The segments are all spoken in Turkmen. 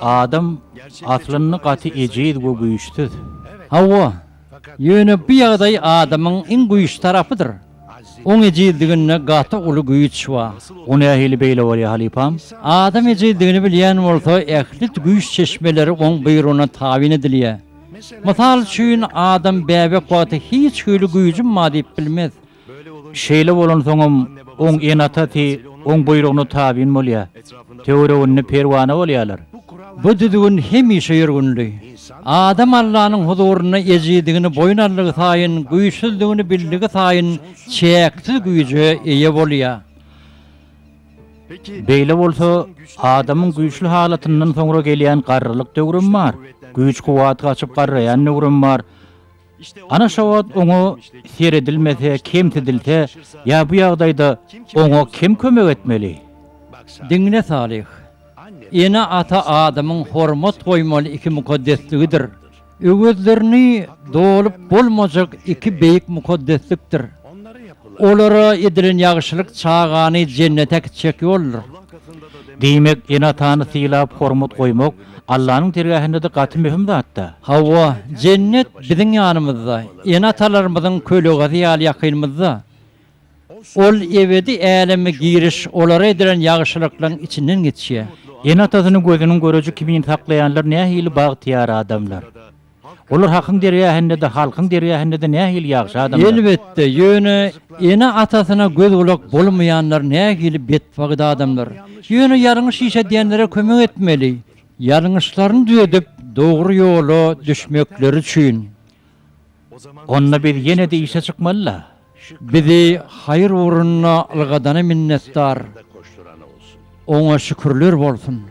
Adam aslynda gaty ejiz we güýçsüz. Hawa, Ýöne bu ýagdaý adamyň iň güýçli tarapydyr. Oň ejizliginde gaty uly güýç bar. O nähili beýle bolýar, halypam? Adam ejizligini bilýän bolsa, ähli güýç çeşmeleri oň buýrugyna tabyn edilýär. Mysal üçin, adam bäbek wagty hiç hili güýjüm bar diýip bilmez. Şeýle bolansoňam, oň ene-atasy oň buýrugyna tabyn bolýar. Töwereginde perwana bolýarlar. Bu düzgün hemişe ýörgünli. Adam Allanyň huzurynda ejidigini boýun aldygy saýyn, güýçsüzdigini bildigi saýyn çäksiz güýje eýe bolýar. Beýle bolsa, adamyň güýçli halatyndan soňra gelýän garrylyk döwrem bar, güýç-kuwwaty gaçyp garraýan döwrem bar. Ana şo wagt oňa seredilmese, kemsidilse ýa bu ýagdaýda oňa kim kömek etmeli? Diňle Salyh. Ene-ata adamyň hormat goýmaly iki mukaddesligidir. Öwezlerini dolup bolmajak iki beýik mukaddeslikdir. Olara edilen ýagşylyk çagany jennete gitjek ýoldur. Diýmek, ene-atany sylap, hormat goýmak Allanyň dergähinde-de gaty möhüm zat-da. Hawa, jennet biziň ýanymyzda, ene-atalarymyzyň kölegazy ýaly ýakynymyzda. Ol ebedi äleme giriş olara edilen ýagşylyklaryň içinden geçýär. Ene-atasyny gözüniň göreji kimin saklaýanlar nähili bagtyýar adamlar! Olar Hakyň dergähinde-de, halkyň dergähinde-de nähili ýagşy adamlar! Elbetde, ýöne ene-atasyna göz-gulak bolmaýanlar nähili betbagyt adamlar! Ýöne ýalňyş iş edýänlere kömek etmeli. Ýalňyşlaryny düzedip, dogry ýola düşmekleri üçin. Onda biz ýene-de işe çykmaly-la! Bizi haýyr ugrunda ylgadana minnetdar. Oňa şükürler bolsun.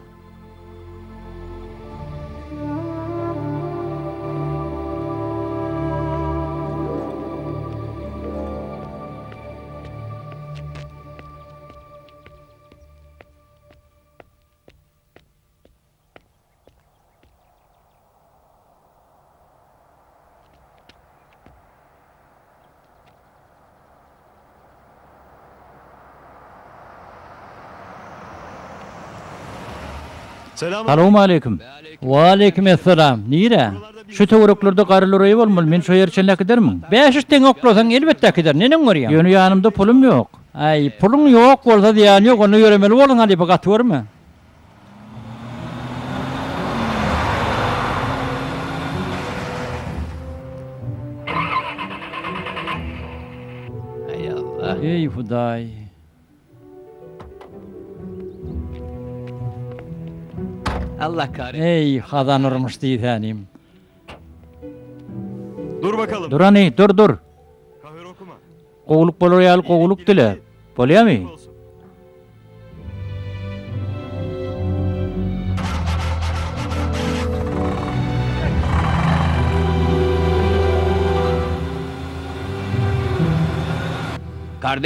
Salowmaleýkim. Waleýkim essalam. Nirä? Şu töwereklerde garyluraýy bolmaly, men şo ýere çenli äkidermiň? Bäş üç teňňe oklasaň, elbetde äkiderin. Neneň görýäň? Ýöne ýanymda pulum ýok. Äý, puluň ýok bolsa zyýany ýok, onda ýöremeli bolduň halypa, gaty görme. Eý Hudaý! Eý Hazan urmuş diýsänim. Dur bakalym. Durany, dur, dur. Gowulyk bolar ýaly gowulyk dile. Bolýamy?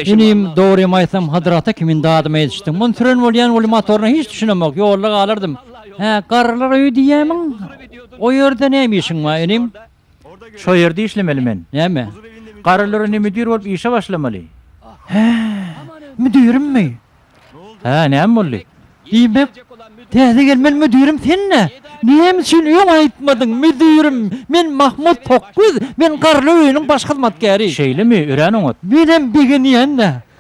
Inim, dogrymy aýtsam, Hadrata kimin dadymy edişdim. Muny süren bolýan weli motoryna hiç düşünemok, ýolda galardym. Hä, garrylar öýi diýýämiň? O ýerde näme işiň bar, inim? Şo ýerde işlemeli men. Näme? Garrylar indi müdir bolup işe başlamaly. Hä? Müdirimmi? Hä, näme boldy? Diýmek, täze gelmen müdirim sen-dä? Näme üçin öň aýtmadyň, müdirim? Men Mahmut Tokgöz, men garrylar öýüniň baş hyzmatkäri. Şeýlemi, örän oňat. Menem begenýän-dä.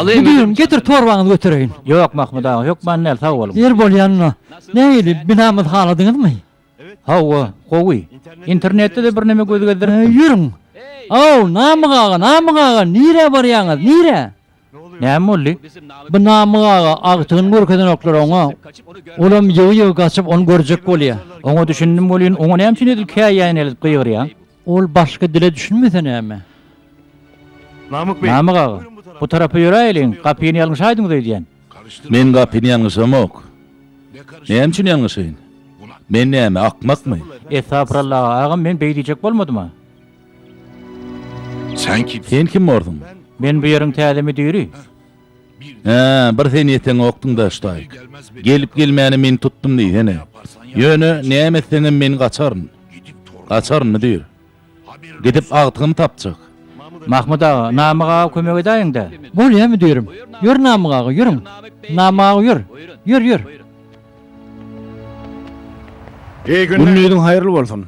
Bu düýn getir torbaňyzy götereýin. Ýok Mahmyt aga, hökman däl, sag boluň. Ir bolýanyna nähili, binamyzy haladyňyzmy? Hawa, gowy. Internetde-de birneme göz gezdiripdim. Ýörüň! Aw, Namyk aga, Namyk aga, nirä barýaňyz, nirä? Näme boldy? Bu Namyk aga agtygyny görkezenoklar oňa. Olam ýygy-ýygy gaçyp, ony görjek bolýar. Oňa düşündim welin, oňa näme üçin edil käýýäýen eltip gygyrýaň? Ol başga dile düşünmese näme? Namyk beý. Namyk aga, bu tarapa ýöräýeliň, gapyny ýalňyşaýdyňyz öýdýän. Men gapyny ýalňyşamok. Näme üçin ýalňyşaýyn? Men näme, akmakmy? Estagfurallah, agam, men beý diýjek bolmadym-a. Sen kim borsuň? Men bu ýeriň täze müdiri. Hä, bir sen ýeteňokdyň daşdaýk. Gelip gelmäne men tutdum diýsene. Ýöne, näme etseňem men gaçaryn. Gaçaryn, müdir. Gidip agtygyny tapjak. Mahmyt aga, Namyk aga kömek edäýiň-dä. Bolýa, müdirim. Ýör Namyk aga, ýörüň. Namyk aga ýör. Ýör, ýör. Gündiziň haýyrly bolsun.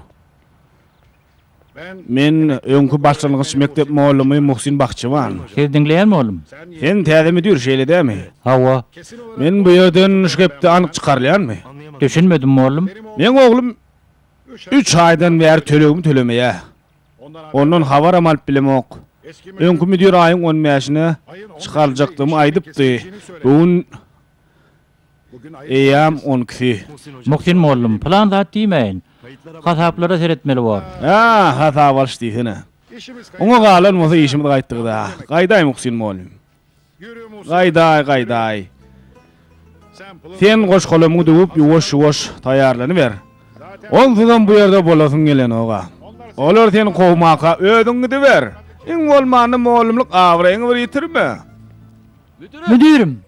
Men öňki başlangyç mekdep mugallamy Muhsin Bahçewan. Siz diňleýärmi oglum? Sen täze müdir, şeýle dämi? Hawa. Men bu ýerden şu gepde anyk çykarylýanmy? Düşünmedim mugallym. Meň oglum üç aýdan bäri tölegimi tölemeýä. Ondan habaram alyp bilemok. Öňki müdir aýyň on bäşine çykaryljakdygymy aýdypdy. Bu gün Eýýäm on ikisi. Muhsin mollum, pylan zat diýmäýin. Hasaplara seretmeli bor. Haa, hasap alyş diýsene. Oňa galan bolsa işimiz gaýtdygyda. Gaýdaý, Muhsin mollum. Gaýdaý, gaýdaý. Sen goş-golamyňy döwüp, ýuwaş-ýuwaş taýýarlanyber. Onsuzam bu ýerde bolasyň gelenok-a. Olar seni kowmaka, özüň gidiber. Iň bolmanda mollumlyk abraýyňy bir ýitirme. Müdirim,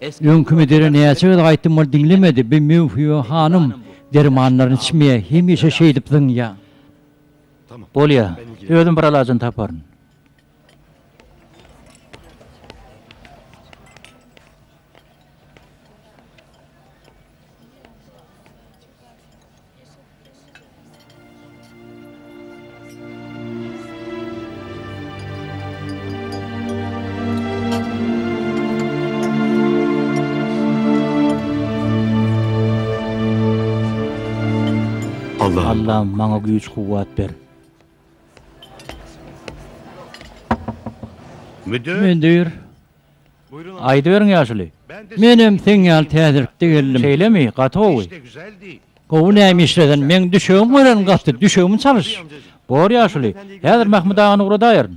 Öňki müdire näçe gezek aýtdym ol diňlemedi bi möwhibe hanym dermanlaryny içmeýär hemişe şeýdip zyňýa. Bolýa. Özüm bir alajyny taparyn. Allahym maňa güýç kuwwat ber. Müdir. Aýdyberiň ýaşuly. Menem seň ýaly täzelikde geldim. Şeýlemi? Gaty gowy. Gowy näme işlesen? Meň düşegim örän gaty, düşegimi çalyş. Bor ýaşuly. Häzir Mahmyt agany ugradaýaryn.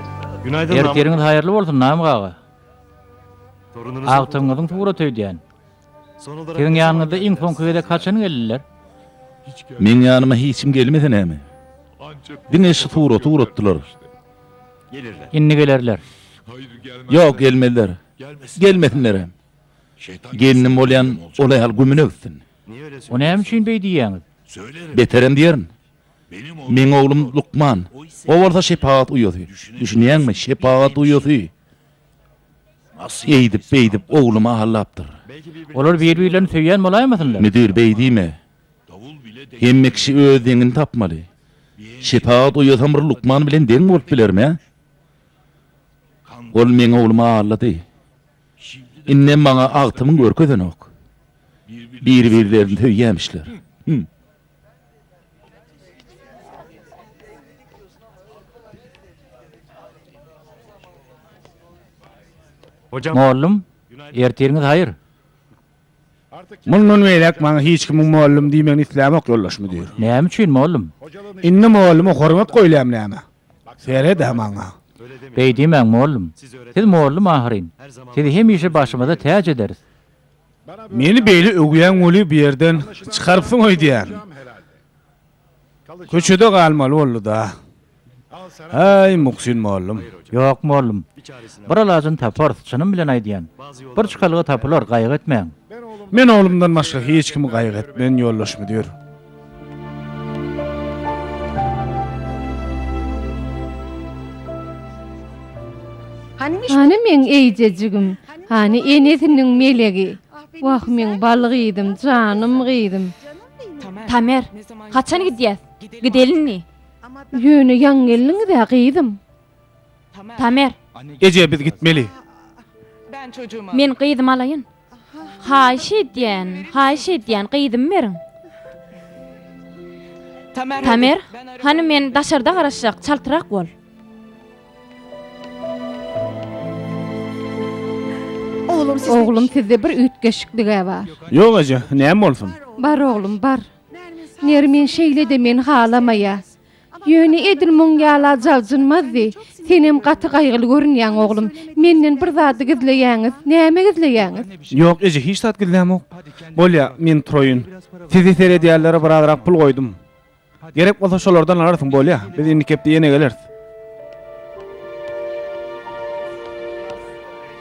Ertiriňiz haýyrly bolsun Name gaga. Agtygyňyzyň suraty öýdýän. Siziň ýanyňyza iň soňky gezek haçan geldiler? Meň ýanyma hiçim gelmese näme. Diňe şu suraty uratdylar. Indi gelerler. Ýok gelmezler. Gelmesinlerem. Gelnim bolýan ol aýal gümüne gitsin. O näme üçin beý diýýäňiz? Beterem diýerin. Meň oglum lukman. O bolsa şepagat uýasy. Düşünýäňmi, şepagat uýasy. Eýdip-beýdip oglumy aldapdyr. Olar bir-birlerini söýýän bolaýmasynlar? Müdir, beý diýme. Hemme kişi öz deňini tapmaly. Şepagat uýasam bir lukman bilen deň bolup bilermi-ä? Ol meň oglumy aldady. Indem maňa agtymyň görkezenok. Bir-birlerini söýýämişler. Hüm. Mollum, ertiriňiz haýyr! Mundan beýläk maňa hiç kimiň mollum diýmegini islämok, ýoldaş müdir. Näme üçin, mollum? Indi molluma hormat goýlaýam näme? Seret-ä maňa! Beýdimäň, mollum. Siz mollum ahyryn. Sizi hemişe başymyza täç ederis. Meni beýle öwýäň weli bu ýerden çykarypsyň öýdýän. Köçede galmaly boldy-da. Häý, Muhsin mollum. Ýok, mollum. Bir alajyny taparys, çynym bilen aýdýan. Bir çykalga tapylar, gaýgy etmäň. Men oglumdan başga hiç kimi gaýgy etmen, ýoldaş müdir. Hany meň eýjejigim, hany enesiniň melegi? Wah, meň bal gyzym, janym gyzym! Tamer, haçan gidýäs? Gidelindi. Ýöne ýaňy geldiňiz-ä, gyzym. Tamer. Eje, biz gitmeli. Men gyzymy alaýyn. Haýyş edýän, haýyş edýän, gyzymy beriň. Tamer, hany men daşarda garaşjak, çaltrak bol. Oglum, sizde bir üýtgeşiklig-ä bar. Ýok, eje, näme bolsun? Bar, oglum, bar. Nermin şeýle-de meni halamaýar. Ýöne edil muň ýaly ajabjynmazdy. Senem gaty gaýgyly görünýäň, oglum. Menden bir zady gizleýäňiz. Näme gizleýäňiz? Ýok, eje, hiç zat gizlämok. Bolýa, men turaýyn. Sizi seredýänlere birazrak pul goýdum. Gerek bolsa şolardan alarsyň, bolýa? Biz indiki hepde ýene geleris.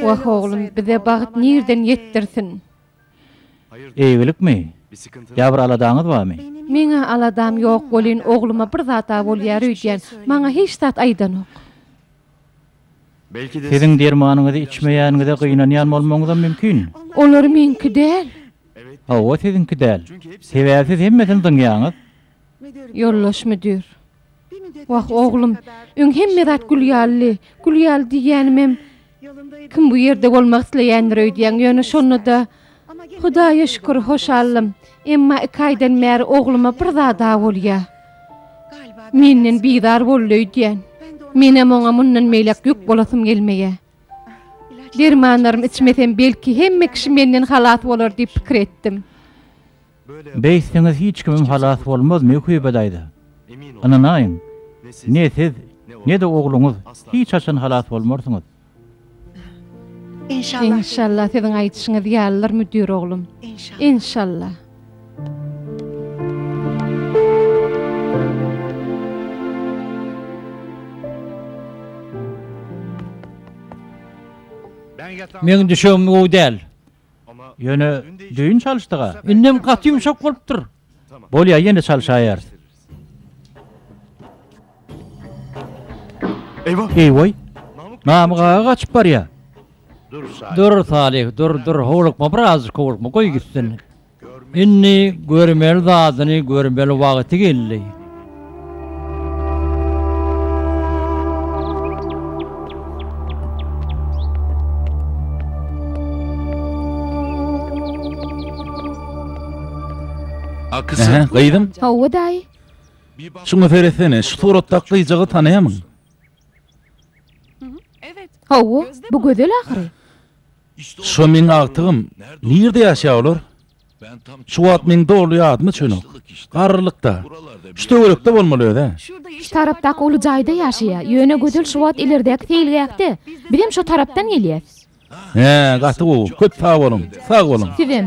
Wah oglum bize bagt nirden ýetdirsin. Eýgilikmi? Ýa bir aladaňyz barmy? Meň-ä aladam ýok welin ogluma bir zat-a bolýar öýdýän. Maňa hiç zat aýdanok. Siziň dermanyňyzy içmeýäniňize gynanýan bolmagyňyzam mümkin. Olar meňki däl. Hawa siziňki däl. Sebäbi siz hemmesini zyňýaňyz. Ýoldaş müdir. Wah, oglum, öň hemme zat gül ýalydy. Gül ýaly diýýänimem, kim bu ýerde bolmak isleýändir öýdýäň, ýöne şonda-da, Hudaýa şükür, hoşalym. Emma iki aýdan bäri ogluma bir zad-a bolýar. Menden bizar boldy öýdýän. Menem oňa mundan beýläk ýük bolasym gelmeýär. Dermanlarymy içmesem, belki, hemme kişi menden halas bolar diýip pikir etdim. Beýtseňiz hiç kimim halas bolmaz Möhübe daýza. Ynanaýyň, ne siz, ne-de ogluňyz hiç haçan halas bolmarsyňyz. Enşalla siziň aýdyşyňyz ýalydyr müdir oglum. Enşalla. Meň düşegim gowy däl. Ýöne, düýn çalyşdyg-a. Indem gaty ýumşak bolupdyr. Bolýa, ýene çalyşaýarys. Eý-woý! Namyk aga gaçyp barýa. Dur, Salyh, dur, dur, howlukma, birazajyk howlukma, goý gitsin. Indi görmeli zadyny görmeli wagty geldi. Hä, gyzym? Hawa, daýy. Şuňa seretsene, şu suratdaky gyjagy tanaýamyň? Hawa, bu gözel ahyry. Şo meň agtygym, nirde ýaşaýar olar? Şu wagt meň doly ýadyma çönok. Garrylykda. Şu töwerekde bolmaly özä. Şu tarapdaky uly jaýda ýaşaýar, ýöne Gözel şu wagt ileridäki seýilgähde. Bizem şo tarapdan gelýäs. Hä, gaty gowy. Köp sag boluň. Sag boluň. Sizem.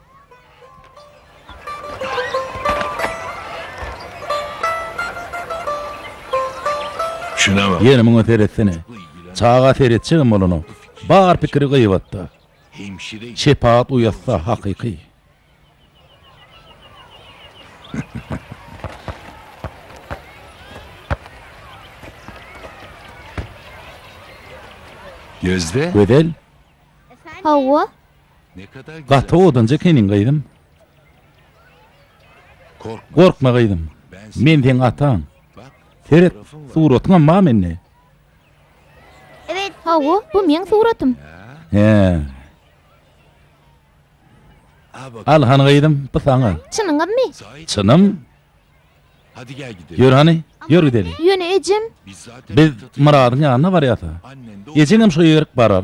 Ýene muňa seretsene. Çaga seretjegem bolanok. Bar pikiri gybatda. Şepagat uýatsa hakyky. Gözel? Hawa. Gaty odunjy ekeniň gyzym. Gorkma gyzym. Men seň ataň. Seret, suratyňam bar mende. Hawa, bu meň suratym. Hä. Al hany gyzym, bu saňa. Çynyňyzmy? Çynym. Ýör hany, ýör gideli. Ýöne ejem. Biz Myradyň ýanyna barýas-a. Ejeňem şo ýerik barar.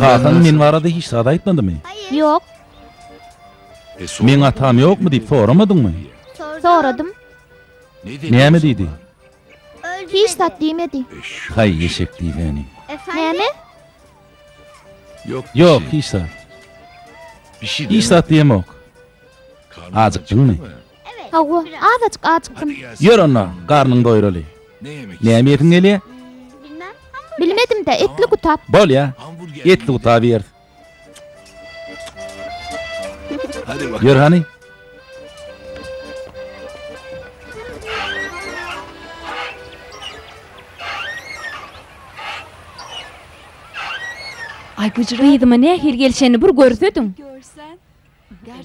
Kakaň men barada hiç zat aýtmadymy? Ýok. Meň atam ýokmy diýip soramadyňmy? Soradym. Näme diýdi? Hiç zat diýmedi. Haý eşek diýleni. Näme? Ýok, hiç zat. Hiç zat diýemok. Ajykdyňmy? Hawa, azajyk ajykdym. Ýör onda, garnyňy doýuraly. Näme iýesiň gelýär? Bilmedim-dä, etli gutap. Bolýa, etli gutap iýeris. Ýör hany. Gyzyma nähili gelişenini bir görsediň.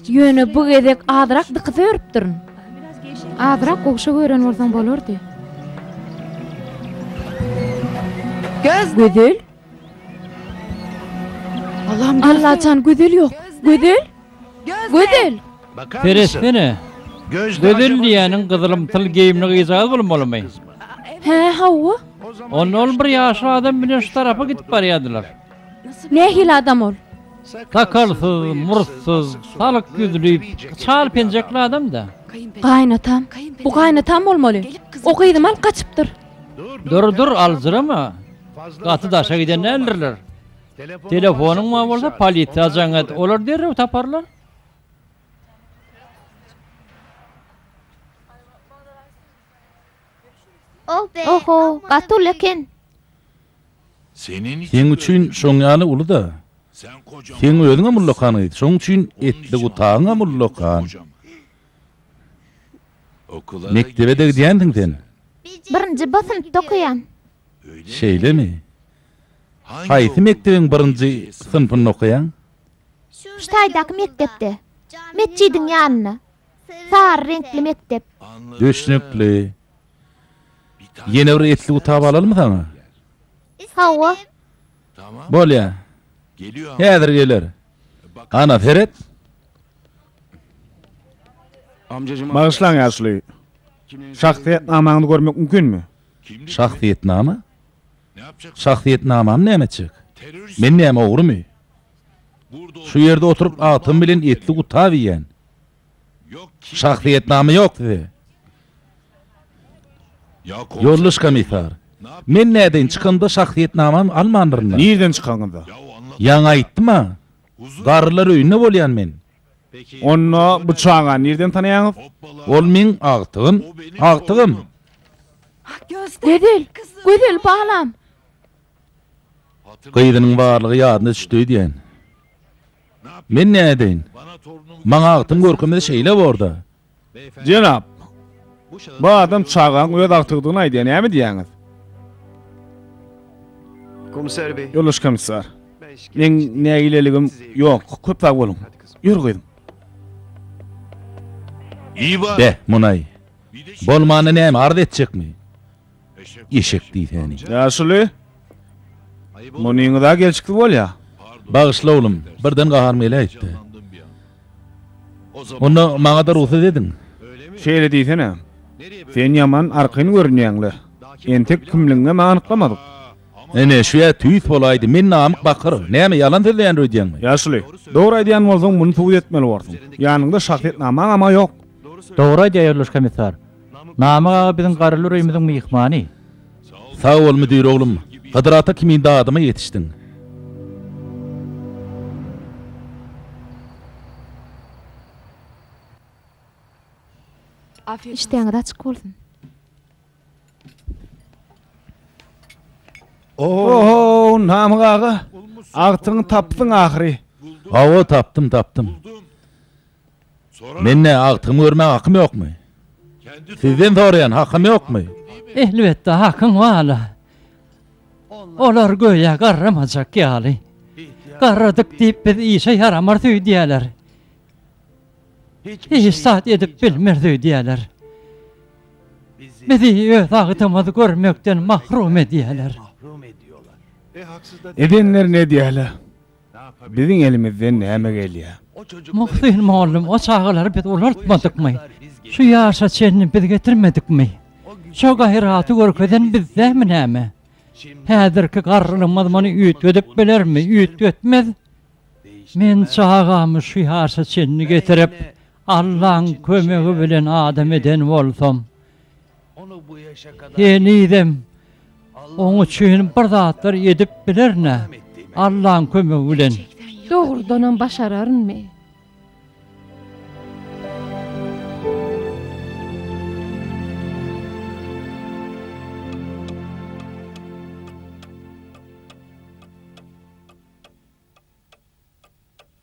Ýöne bu gezek azrak dykyz örüpdirin. Azrak gowşak ören bolsaň bolardy. Gözel? Allajan Gözel ýok. Gözel? Gözel! Seretsene. Gözel diýýäniň gyzylymtyl geýimli gyzjagaz bolmalymy? Hä, hawa. Onda ol bir ýaşly adam bilen şu tarapa gidip barýardylar. Nähili adam ol? Sakalsyz, murtsyz, salyk ýüzli, çal penjekli adam-da. Gaýynatam? Bu gaýynatam bolmaly. O gyzymy alyp gaçypdyr. Dur, dur, aljyrama. Gaty daşa giden däldirler. Telefonyň bar bolsa, polisiýa jaň et, olar derrew taparlar. Oh-ho, gaty uly eken. Seň üçin şoň ýaly uly-da. Seň özüň-ä ullakan gyz, şoň üçin etli gutagyň-am ullakan. Mekdebe-de gidýänsiň sen? Birinji B synpda okaýan. Şeýlemi? Haýsy mekdebiň birinji synpynda okaýaň? Şu taýdaky mekdepde. Metjidiň ýanynda. Sary reňkli mekdep. Düşnükli. Ýene bir etli gutap alalmy saňa? Hawa. Bolýa. Häzir geler. Ana, seret. Bagyşlaň, ýaşuly. Şahsyýetnamaňyzy görmek mümkinmi? Şahsyýetnama? Şahsyýetnamam näme etjek? Men näme ogrymy? Şu ýerde oturyp agtam bilen etli gutap iýýän. Şahsyýetnama ýok size. Ýoldaş komissar, men nädeýin çykanymda şahsyýetnamamy almandyryn-a? Nirden çykaňyzda? Ýaňy aýtdym-a, garrylar öýünde bolýan men. Onda bu çagany nirden tanaýaňyz? Ol meň agtygym, agtygym. Gözel, Gözel balam! Gyzynyň barlygy ýadyna düşdi öýdýän. Men nädeýin? Maňa agtyň görkemi şeýle bor-da. Jenap, bu adam çagaň öz agtygydygyny aýdýar, näme diýýäňiz? Ýoldaş komissar, meň nägileligim ýok, köp sag boluň. Ýör, gyzym. Be, munaý. Bolmanda näme, arz etjekmi? Eşek diýsäni. Ýaşuly, munyňyz-a gelşikli bolýa. Bagyşla, oglum, birden gaharym geläýipdi. Onda maňa-da rugsat ediň. Şeýle diýsene. Sen ýaman argyn görünýäň-le. Entek kimligiňem anyklamadyk. Ine, şu ýa tüýs bolaýdy, men namyk bakyr. Näme, ýalan sözleýändir öýdýäňmi? Ýaşuly, dogry aýdýan bolsaň, muny subut etmeli borsuň. Ýanyňda şahsyýetnamaň-ama ýok. Dogry aýdýar, Ýoldaş Komissar. Namyk aga biziň Garly öýümiziň myhmany. Sag bol müdir oglum, Hydyr ata kimin dadyma ýetişdiň. Işdäňiz açyk bolsun. Ohow Namyk aga, agtygyňy tapdyň ahyry. Hawa tapdym tapdym. Mende agtygymy görmäge hakym ýokmy? Sizden soraýan, hakym ýokmy? Elbetde hakyň bar-la. Olar göýä garramajak ýaly. Garradyk diýip biz işe ýaramars öýdýäler. Hiç zat edip bilmeris öýdýäler. Bizi öz agtymyzy görmekden mahrum edýäler. Edenlerini edýäler. Biziň elimizden näme gelýär? Muhsin mugallym, O çagalary biz ulaltmadykmy? Şu ýaşa çenli biz getirmedikmi? Şo gaýraty görkezen bizdämi näme? Häzirki garrylymyz muny üýtgedip bilermi? Üýtgetmez. Men çagamy şu ýaşa çenli getirip, Allaň kömegi bilen adam eden bolsam, Henizem oň üçin bir zatlar edip bilerin-ä, Allaň kömegi bilen. Dogrudanam başararynmy?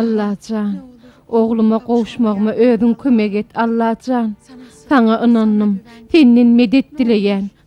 Allajan, ogluma gowuşmagyma özüň kömek et, Allajan. Saňa ynandym. Senden medet dileýän.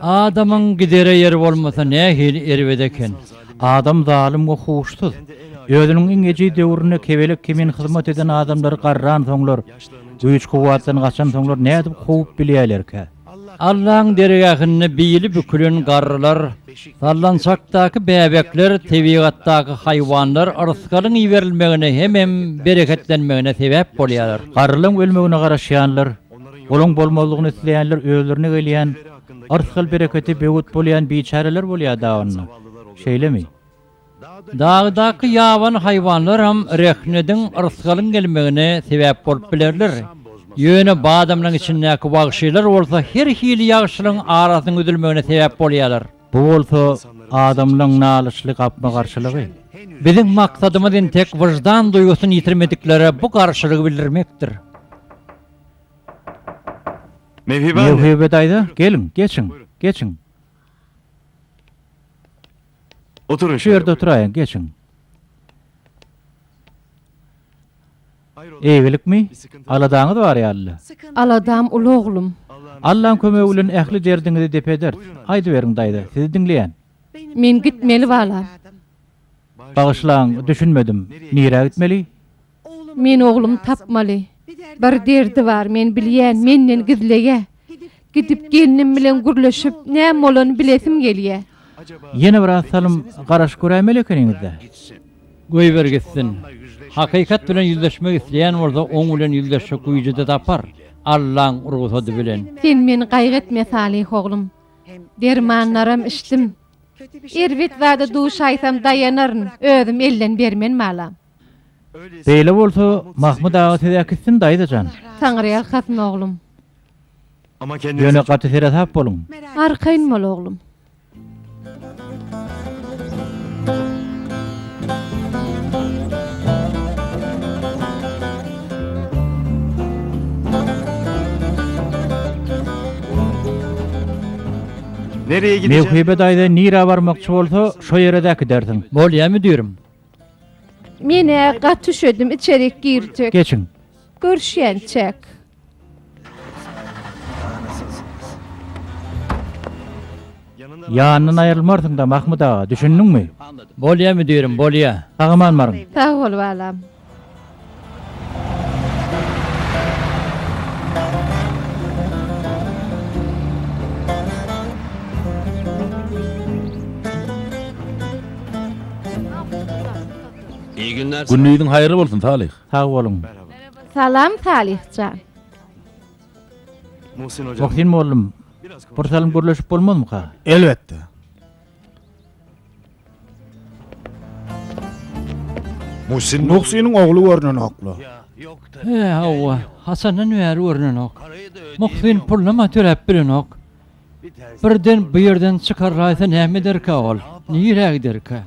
Adamyň gidere ýeri bolmasa nähili erbet eken. Adam zalym we huşsuz. Özüniň iň ejiz döwründe kebelek kimin hyzmat eden adamlary garransoňlar, güýç-kuwwatdan gaçansoňlar nädip kowup bilýärlerkä? Allaň dergähinde bili bükülen garrylar, sallançakdaky bäbekler tebigatdaky haýwanlar yrsgalyň iberilmegine hemem bereketlenmegine sebäp bolýarlar. Garrylaň ölmegine garaşýanlar, olaň bolmazlygyny isleýänler özlerine gelýän yrsgal-bereketi böwet bolýan biçäreler bolýar dagynda, şeýlemi? Dagydaky ýabany haýwanlaram rehnediň, yrsgalyň gelmegine sebäp bolup bilerler. Ýöne badamlaryň içindäki wagşylar bolsa her hili ýagşylygyň arasynyň üzülmegine sebäp bolýarlar. Bu bolsa adamlaryň nalyçly gapma-garşylygy. Biziň maksadymyz entek wyždan duýgusyny ýitirmediklere bu garşylygy bildirmekdir. Mewibe daýza, geliň, geçiň, geçiň. Oturyň şeýle. Şu ýerde oturaýyň, geçiň. Eýgilikmi? Aladaňyz bar ýaly-da. Aladam uly oglum. Allaň kömegi bilen ähli derdiňizi dep ederis. Aýdyberiň daýza, sizi diňleýän. Men gitmeli balam. Bagyşlaň, düşünmedim. Nirä gitmeli? Men oglumy tapmaly. Bir derdi bar, men bilýän, menden gizleýä. Gidip gelnim bilen gürleşip, näme bolany bilesim gelýä. Ýene biraz salym garaşyp göräýmeli ekeniňiz-dä. Goýber gitsin. Hakykat bilen ýüzleşmek isleýän bolsa, oň bilen ýüzleşjek güýji-de tapar, Allaň rugsady bilen. Sen meni gaýgy etme, Salyh oglum. Dermanlaram içdim. Erbet zada duşaýsam daýanaryn, özüm elden bermen balam. Beýle bolsa Mahmyt aga siz äkitsin daýza jan. Taňryýalkasyn oglum. Ýöne gaty seresap boluň. Arkaýyn bol oglum. Mewhibe daýza nirä barmakçy bolsa şo ýere-de äkidersiň. Bolýa müdirim. Menä gaty üşedim içerik girjek. Geçiň. Görüşýänçäk. Ýanyndan aýrylmarsyňda Mahmyt aga, düşündiňmi? Bolýa müdirim, bolýa. Sag aman baryň. Sag bol balam. Gündiziň haýyrly bolsun Salyh. Sag boluň. Salam Salyh jan. Muhsin mollum, bir salym gürleşip bolmazmyka? Elbetde. Muhsin Muhsiniň ogly görnenokla. He, hawa, haçandan bäri görnenok. Muhsin pullama töläp bilenok. Birden bu ýerden çykarlaýsa näme ederkä ol? Nirä giderkä?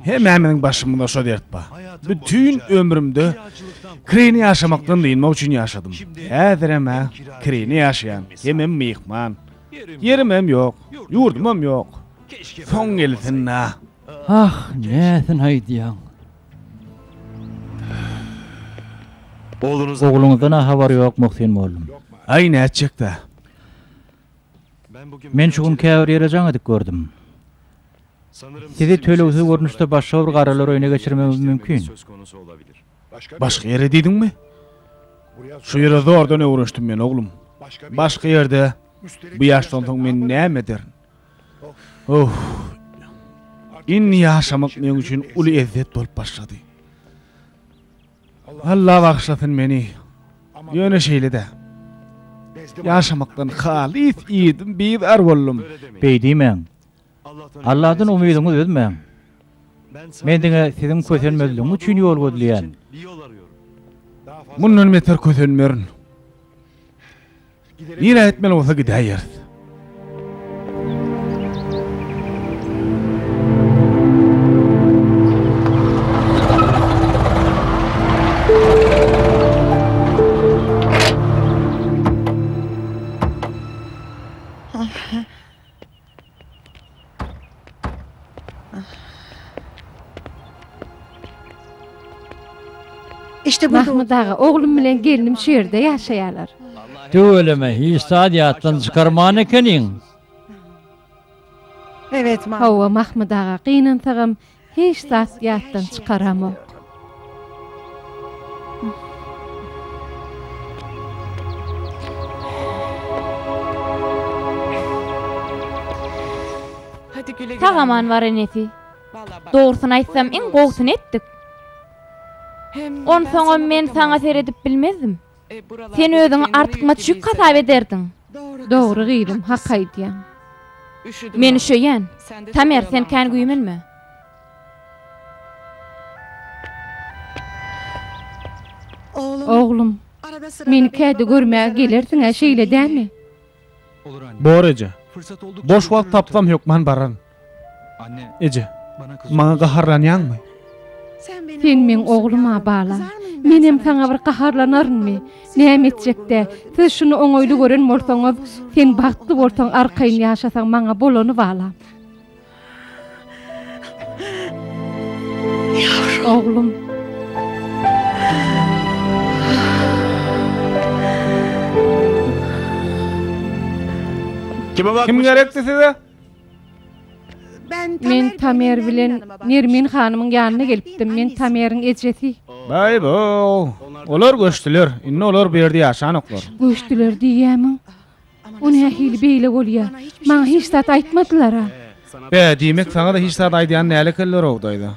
Hemmämiziň başymyzda şo dert bar. Bütin ömrümde kirine ýaşamakdan dynmak üçin ýaşadym. Häzirem-ä kirine ýaşaýan, hemem myhman. Ýerimem ýok, ýurdumam ýok. Soň gelsin-dä. Ah, näsini aýdýaň? Ogluňyzdan-a habar ýok, Muhsin mollum. Aý, nätjek-dä? Men şu gün käbir ýere jaň edip gördüm. Sizi tölegsiz görnüşde başga bir garalar öýüne geçirmegimiz mümkin. Başga ýere diýdiňmi? Şu ýere zordan öwrenişdim men, oglum. Başga ýerde bu ýaşdan soň men näme ederin? Öw! Indi ýaşamak meň üçin uly ezzet bolup başlady. Allah bagyşlasyn meni. Ýöne şeýle-de. Ýaşamakdan halys iýdim, bizar boldum. Beýdimäň. Alladan umydyňy üzmäň. Men diňe siziň kösenmezligiňiz üçin ýol gözleýän. Mundan beter kösenmerin. Nirä gitmeli bolsa gidäýeris. İşte bu Mahmut aga, oglum bilen gelnim şu ýerde ýaşaýarlar. Tüweleme, hiç zat ýatdan çykarman ekeniň. Evet, Mahmut. Hawa, Mahmut aga, gynansagam, Hiç zat ýatdan çykaramok. Sag aman bar enesi. Dogrusyny aýtsam iň gowusyny etdik. Onsoňam men saňa seredip bilmezdim. Sen özüňi artykmaç ýük hasap ederdiň. Dogry gyzym, hak aýdýaň. Men üşeýän. Tamer, sen kän güýmenme. Oglum, meni käte görmäge gelersiň-ä, şeýle dälmi? Bor eje. Boş wagt tapsam hökman bararyn. Eje, maňa gaharlanýaňmy? Sen meň oglum-a, bala. Menem saňa bir gaharlanarynmy? Näme etjek-dä? Siz şuny oňaýly gören bolsaňyz, sen bagtly bolsaň, arkaýyn ýaşasaň maňa bolany, bala. Ýavrum. Oglum. Kime bakmyş? Kim gerekdi size? Ben Tamer, Men Tamer bilen ýanyma barmyş. Nermin hanymyň ýanyna gelipdim. Men Tameriň ejesi. Baý bo. Olar göçdüler. Indi olar bu ýerde ýaşanoklar. Göçdüler diýýämiň? O nähili beýle bolýa? Maňa hiç zat aýtmadylar-a? Bä, diýmek, saňa-da hiç zat aýdýan däl ekenler-ow, daýza.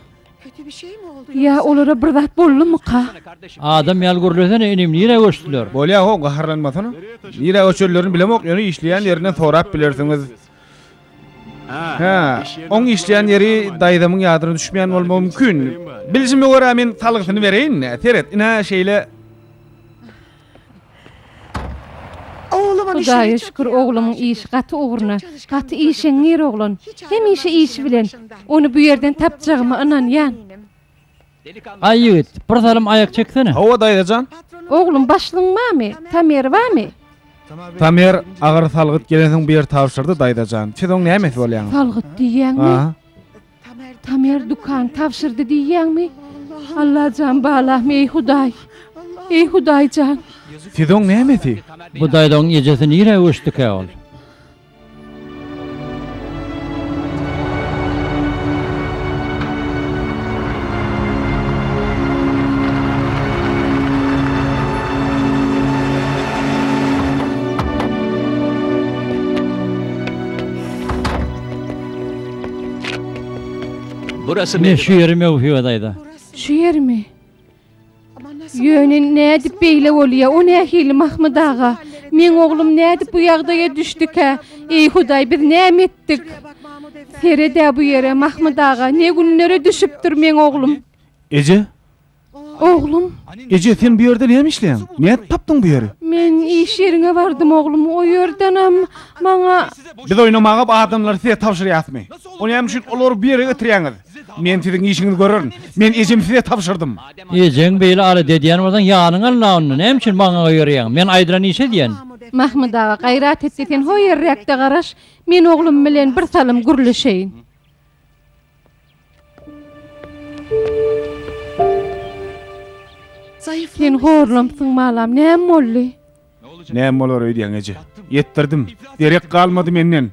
Ýa olara bir zat boldumyka? Adam ýaly gürlesene, inim, nirä göçdüler? Bolýa-how, gaharlanmasana. Nirä göçenlerini bilemok, ýöne işleýän ýerinden sorap bilersiňiz. Hä, oň işleýän ýeri daýzamyň ýadyna düşmeýän bolmagy mümkin. Biljime görä, men salgysyny bereýin. Seret, ine, şeýle. Hudaýa şükür oglumyň işi gaty ugruna, gaty işeňňir oglan, hemişe işi bilen, ony bu ýerden tapjagyma ynanýan. Aý ýigit, bir salym aýak çeksene. Hawa daýzajan. Oglum başlygyň bamy, Tamer bamy? Tamer agyr salgyt gelensoň bu ýeri tabşyrdy daýzajan. Siz oň nämesi bolýaňyz? Salgyt diýýäňmi? Tamer dukan tabşyrdy diýýäňmi? Allajan balam eý Hudaý. Eý Hudaýjan. Sizoň nämesi? Bu daýzaň ejesi nirä göçdikä ol? Ine, şu ýeri möwhibadaýda. Şu ýermi? Ýöne nädip beýle bolýa? O nähili, Mahmyt aga? Meň oglum nädip bu ýagdaýa düşdükä? Eý, Hudaý, biz näme etdik? Seret-ä bu ýere, Mahmyt aga, ne günlere düşüpdir meň oglum? Eje! Oglum! Eje, sen bu ýerde näme işleýäň? Nädip tapdyň bu ýeri? Men iş ýeriňe bardym, oglum. O ýerdenem maňa. Biz oýnamaga bu adamlary size tabşyrýasmy? O näme üçin olary bu ýere getirýäňiz? Men siziň işiňizi görerin. Men ejemi size tabşyrdym. Ejeň beýle alada edýän bolsaň, ýanyňy alyn-a onda. Näme üçin maňa goýberýäň? Men aýdylan işi edýän. Mahmyt aga, gaýrat et-de, sen hoýerräk-de garaş. Men oglum bilen birsalym gürleşeýin. Sen horlamsyň balam, näme boldy? Näme bolar öýdýäň eje? Ýetdirdim. Derek galmady menden.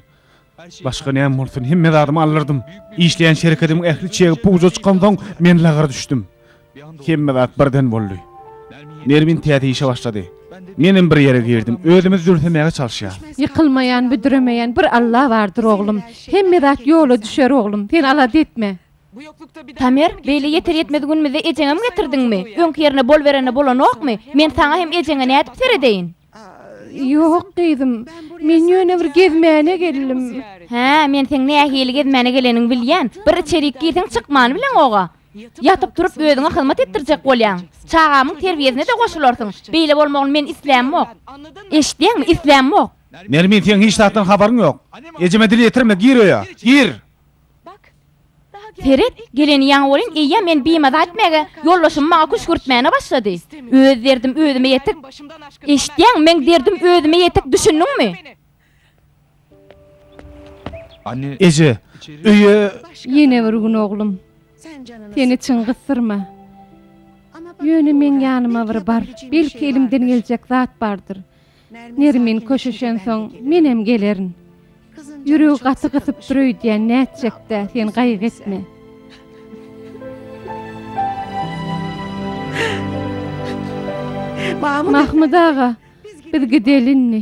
Başga näme bolsun, hemme zadymy aldyrydym. Işleýän şerketimiň ähli çegi puja çykansoň, men lagra düşdüm. Hemme zat birden boldy. Nermin täze işe başlady. Menem bir ýere girdim. Özümizi zülsemäge çalyşýarys. Ýykylmaýan, büdremeýän bir Alla bardyr, oglum. Hemme zat ýola düşer, oglum. Sen alada etme. Tamer, beýle ýeter-ýetmez günümizde ejeňem getirdiňmi? Öňki ýerine boluberende bolanokmy? Men saňa hem ejeňe nädip seredeýin? Ýok, gyzym. Men ýöne bir gezmäne geldim. Hä, men seň nähili gezmäne geleniňi bilýän. Bir içerik girseň çykmany bileň-ow-a. Ýatyp-turup özüňe hyzmat etdirjek bolýaň. Çagamyň terbiýesine-de goşularsyň. Beýle bolmagyny men islämok. Eşitýäňmi, islämok! Nermin, seň hiç zatdan habaryň ýok. Ejeme dil ýetirme, gir öýe, gir! Seret, geleni ýaňy welin eýýäm meni bimaza etmäge, ýoldaşymy maňa küşgürtmäne başlady. Öz derdim özüme ýetik. Eşitýäňmi, meň derdim özüme ýetik, düşündiňmi? Eje, öýe. Ýene bir gün, oglum. Seni çyn gysdyrma. Ýöne meň ýanyma bir bar. Belki elimden geljek zat bardyr. Nermin köşeşensoň, menem gelerin. Ýüregi gaty gysypdyr öýdýän, nätjek-dä, sen gaýgy etme. Mahmyt aga, biz gideli indi.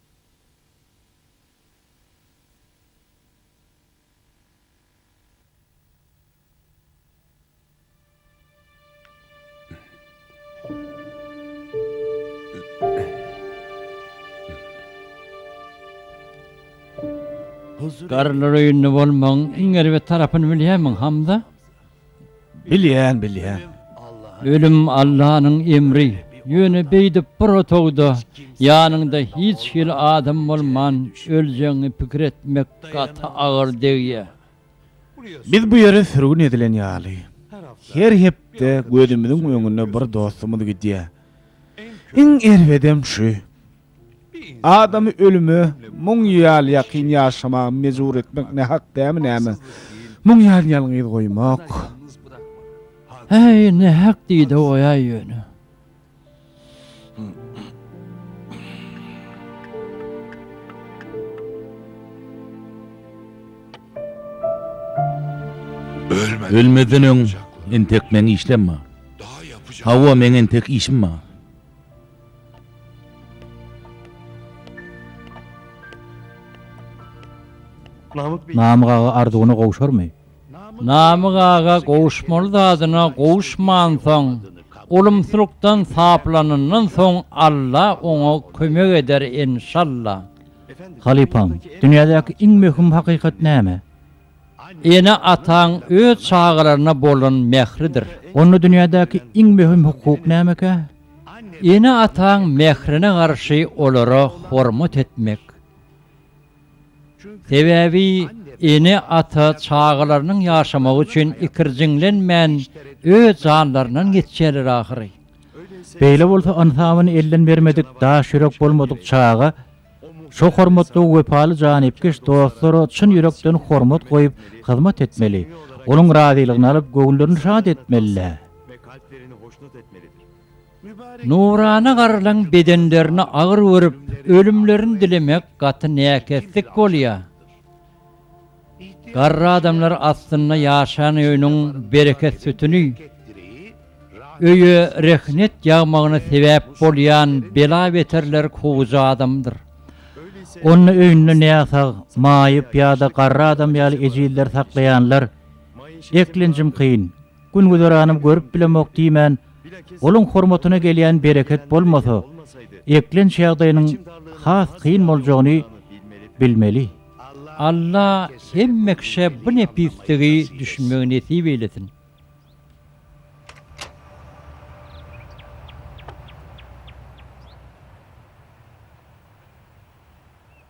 Garrylar öýünde bolmagyň iň erbet tarapyny bilýärmiň, Hamza? Bilýän, bilýän. Ölüm Allanyň emri. Ýöne beýdip bir otagda, ýanyňda hiç hili adam bolman öljegiňi pikir etmek gaty agyr degýär. Biz bu ýere sürgün edilen ýaly. Her hepde gözümiziň öňünde bir dostumyz gidýär. Iň erbedem şu. Adamy ölüme muň ýal ýakyn ýaşamaga mejbur etmek nähak dämi näme? Muň ýal ýalňyz goýmak. Häý, nähak diýde goýaý ýöne. Ölmezden öň entek meň işlem bar. Hawa, meň entek işim bar. Namyk aga arzuwyna gowşarmy? Namyk aga gowuşmaly zadyna gowuşmansoň, ulumsylykdan saplanandan soň Alla oňa kömek eder enşalla. Halypam, dünýädäki iň möhüm hakykat näme? Ene-ataň öz çagalaryna bolan mähridir. Onda dünýädäki iň möhüm hukuk nämekä? Ene-ataň mährine garşy olara hormat etmek. Sebäbi ene-ata çagalarynyň ýaşamagy üçin ikirjiňlenmän öz janlaryndan geçýärler ahyry. Beýle bolsa ynsabyny elden bermedik, daş ýürek bolmadyk çaga Şo hormatly we wepaly janypkeş dostlara çyn ýürekden hormat goýup, hyzmat etmeli, olaryň razylygyny alyp, göwünlerini şat etmeli-dä. Nurana garrylaryň bedenlerini agyr görüp, ölümlerini dilemek gaty näkeslik bolýar. Garry adamlar astynda ýaşan öýüniň bereket sütüni, öýe rehnet ýagmagyna sebäp bolýan bela-beterler kowujy adamdyr. Onda öýünde näsag, maýyp ýa-da garry adam ýaly ejizleri saklaýanlar eklenjim kyn. Gün-güzeranym görüp bilemok diýmän, onuň hormatyna gelýän bereket bolmasa, eklenç ýagdaýynyň has kyn boljagyny bilmeli. Alla hemme kişä bu nepisligi düşünmegi nesip eýlesin.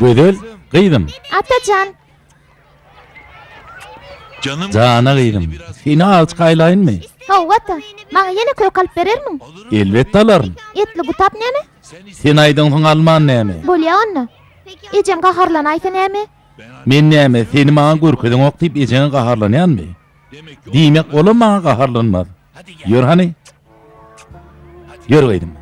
Gözel gyzym. Atajan. Jana gyzym, seni aç gaýlaýynmy? Hawa ata, maňa ýene kök alyp berermiň? Elbetde alaryn. Etli gutap näme? Sen aýdyňsyň alman näme? Bolýa onda. Ejem gaharlanaýsa näme? Men näme, seni maňa görkezeňok diýip ejeňe gaharlanýanmy? Diýmek, olam maňa gaharlanmaz. Ýör hany. Ýör gyzym.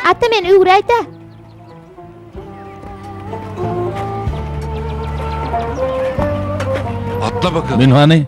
Ata men öwräýdä. Atla bakalım. Münhani.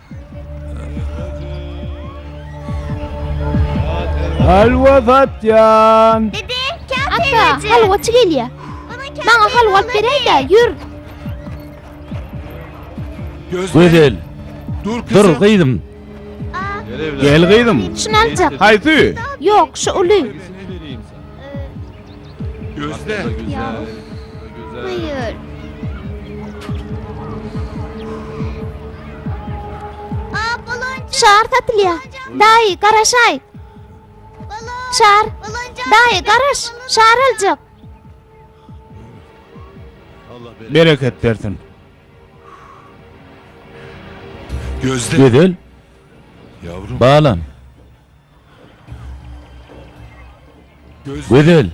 Halwa satýan. Dede, kâr Ata, halwaçy gelýär. Maňa halwa alyp beräýdä, ýür. Gözel. Dur, gyzym. Gel, gyzym. Şuny aljak. Haýsy? Ýok, şu uly. Gözle. Buyur. Şar satylýa. Daýy, garaşaý. Şar. Daýy, garaş. Şar aljak. Bereket bersin. Gözde. Gözel. Balam. Gözel!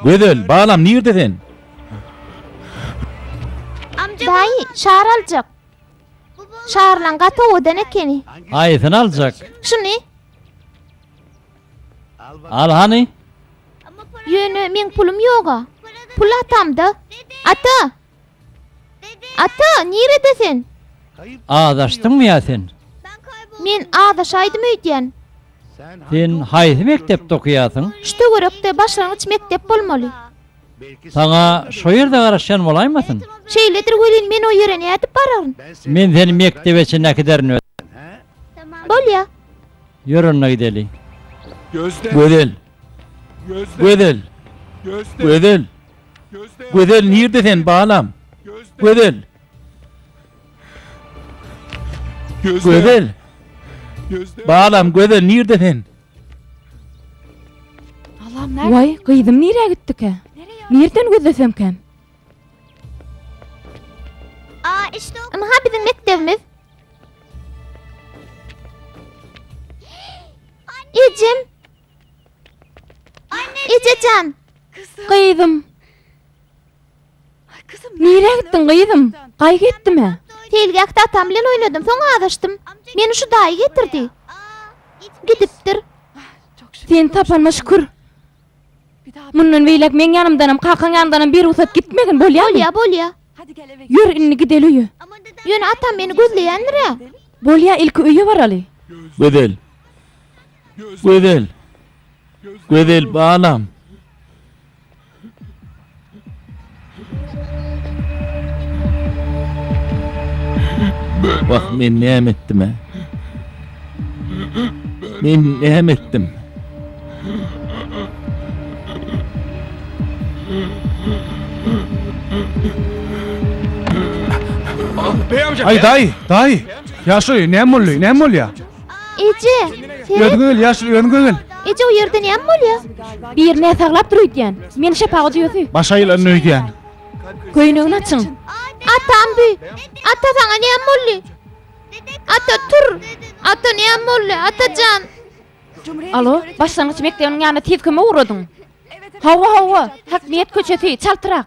Gözel, balam, nirde sen? Daýy, şar aljak. Şarlaň gaty owadan ekeni. Haýsyny aljak? Şuny. Al hany. Ýöne meň pulum ýog-a. Pul atamda. Ata! Ata, nirede sen? Azaşdyňmy ýa sen? Men azaşaýdym öýdýän. Sen haýsy mekdepde okaýarsyň? Şu töwerekde başlangyç mekdep bolmaly. Saňa şo ýerde garaşýan bolaýmasyn? Şeýledir welin men o ýere nädip bararyn? Men seni mekdebe çenli äkiderin özüm. Bolýa. Ýör onda gideli. Gözel! Gözel! Gözel! Gözel nirde sen balam? Gözel. Gözel. Balam Gözel nirde sen? Alam nerede? Vay gyzym nireye gitti ki? Nirden gözlesem kem? Aa işte o. Ama ha bizim mektebimiz. Ecem Ejejan! Gyzym! Nirä gitdiň, gyzym? Gaý gepdimä? Seýilgähde atam bilen oýnadym, soň azaşdym. Meni şu daýy getirdi. Gidipdir. Seni tapanyma şükür. Mundan beýläk meň ýanymdanam, kakaň ýanyndanam birugsat gitmegin, bolýamy? Bolýa, bolýa. Ýör, indi gideli öýe. Ýöne atam meni gözleýändir-ä? Bolýa, ilki öýe baraly. Gözel. Gözel. Gözel balam. Wah men näme etdim ha? Men näme etdim? Ay day, day. Yaşoy, ne molly, ne molly ya? Eje, seret. Öňe gel, ýaş, öňe gel. Eje, o ýerde näme bolýar? Bir näme saglap dur öýdýän. Men şepaga düýesi. Baş aýlan öýdýän. Köýnegini açyň. Atam bi. Ata saňa näme boldy? Ata tur. Ata näme boldy? Atajan. Alo, başlangyç mekdebiniň ýanyna tiz kömek ugradyň. Hawa, hawa. Hakmiýet köçesi, çaltrak.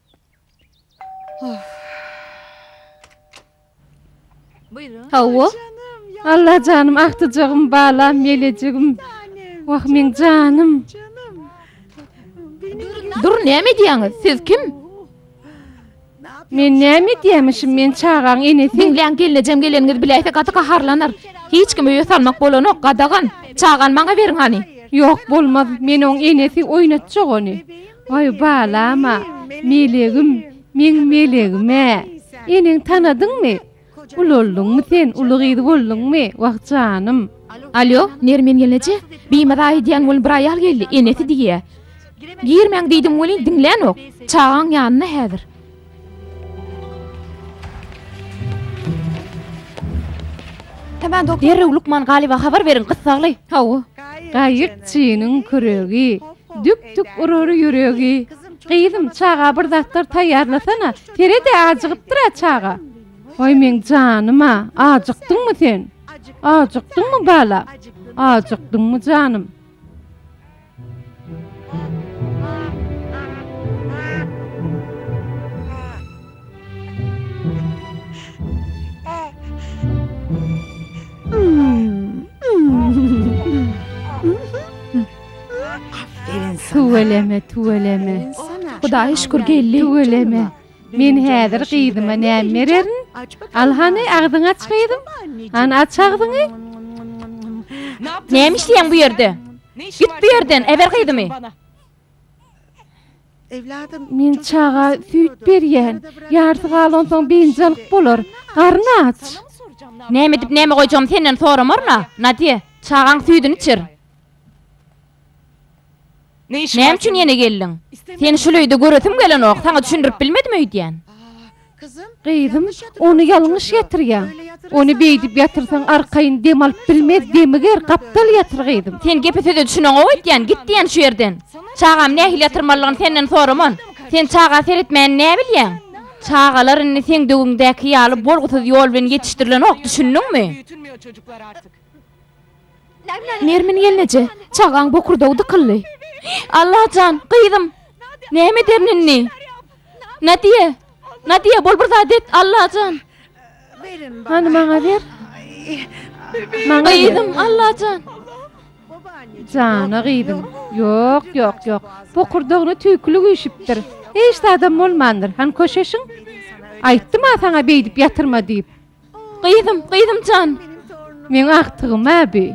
Hawa. Allajanym agtyjagym balam melejigim. Wah meň janym. Dur näme edýäňiz? Siz kim? Men näme edýämişim? Men çagaň enesi. Diňläň gelnejem geleniňizi biläýse gaty gaharlanar. Hiç kimi öýe salmak bolanok gadagan. Çagany maňa beriň hany. Ýok bolmaz. Men oň enesi oýnatjak ony. Waý balam-a, melegim, meň melegim-ä! Eneňi tanadyňmy? Ulaldyňmy sen, uly gyz bolduňmy? Wah janym! Alýo, Nermin gelneje, bimaza aýdýan welin bir aýal geldi, enesi diýýä. Girmäň diýdim welin diňlänok. Çagaň ýanynda häzir. Derrew lukman Galyba habar beriň, gyssagly. Hawa, gaýykçynyň küregi, Dük-dük urar ýüregi. Gyzym, çaga bir zatlar taýýarlasana, Seret-ä, ajygypdyr-a çaga. Aý, meň janym-a, ajykdyňmy sen? Ajykdyňmy, bala? Ajykdyňmy, janym? Tüweleme, tüweleme. Hudaýa şükür geldi. Tüweleme. Men häzir gyzyma näme bererin? Al hany agzyňy aç gyzym. Hany aç agzyňy. Näme işleýäň bu ýerde? Git bu ýerden, eber gyzymy! Men çaga süýt berýän. Ýarysy galansoň biynjalyk bolar. Garyn aç. Näme edip, näme goýjagymy senden soramaryn-a, Nadýe. Çagaň süýdüni içir. Näme üçin ýene geldiň? Seni şul öýde göresim gelenok. Saňa düşündirip bilmedim öýdýän. Gyzym, ony ýalňyş ýatyrýaň. Ony beýdip ýatyrsaň arkaýyn dem alyp bilmez, demiger, gapdal ýatyr gyzym. Sen gepe söze düşüneňok öýtýän, git diýen şu ýerden. Çagamy nähili ýatyrmalydygyny senden soraman. Sen çaga seretmäni näbilýäň? Çagalar indi seň döwüňdäki ýaly bolgusyz ýol bilen ýetişdirilenok, düşündiňmi? Nermin gelneje, çagaň bokurdagy dykyldy. Alla jan, gyzym! Näme ederin indi? Nadiýe! Nadiýe, bol bir zat et, Alla jan! Hany maňa ber. Maňa ber. Gyzym, Alla jan! Jana gyzym. Ýok, ýok, ýok. Bokurdagyna tüýkülik üýşüpdir. Hiç zadam bolmandyr. Hany köşeşiň? Aýtdym-a saňa beýdip ýatyrma diýip. Gyzym, gyzym jan! Meň agtygym-a bi!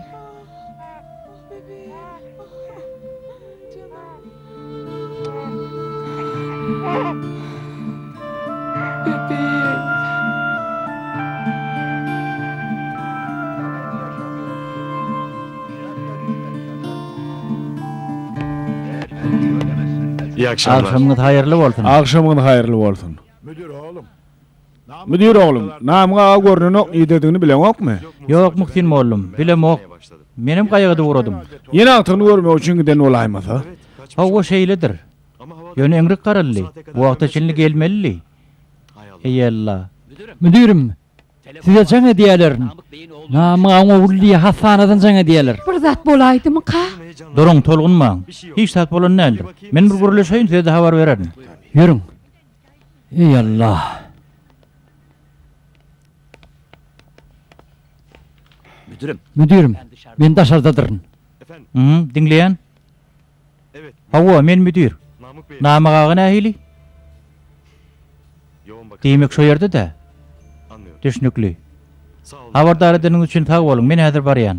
Agşamyňyz haýyrly bolsun. Agşamyňyz haýyrly bolsun. Müdir oglum, Namyk aga görnenok, nidedigini bileňokmy? Ýok, Muhsin mollum, bilemok. Menem gaýygy-da ugradym. Ýene agtygyny görmek üçin giden bolaýmasa? Hawa, şeýledir. Ýöne eňrik garaldy. Bu wagta çenli gelmelidi. Eýella. Müdirim, size jaň edýäler. Namyk agaň ogly diýýär, hassanadan jaň edýäler. Bir zat bolaýdymyka? Duruň, tolgunmaň. Hiç zat bolan däldir. Men bir gürleşeýin, size-de habar bererin. Ýörüň. Eý Allah! Müdirim. Müdirim, men daşardadyryn. Hm, diňleýän? Hawa, men müdir. Namyk aga nähili? Diýmek, şo ýerde-dä? Düşnükli. Habardar edeniňiz üçin sag boluň, men häzir barýan.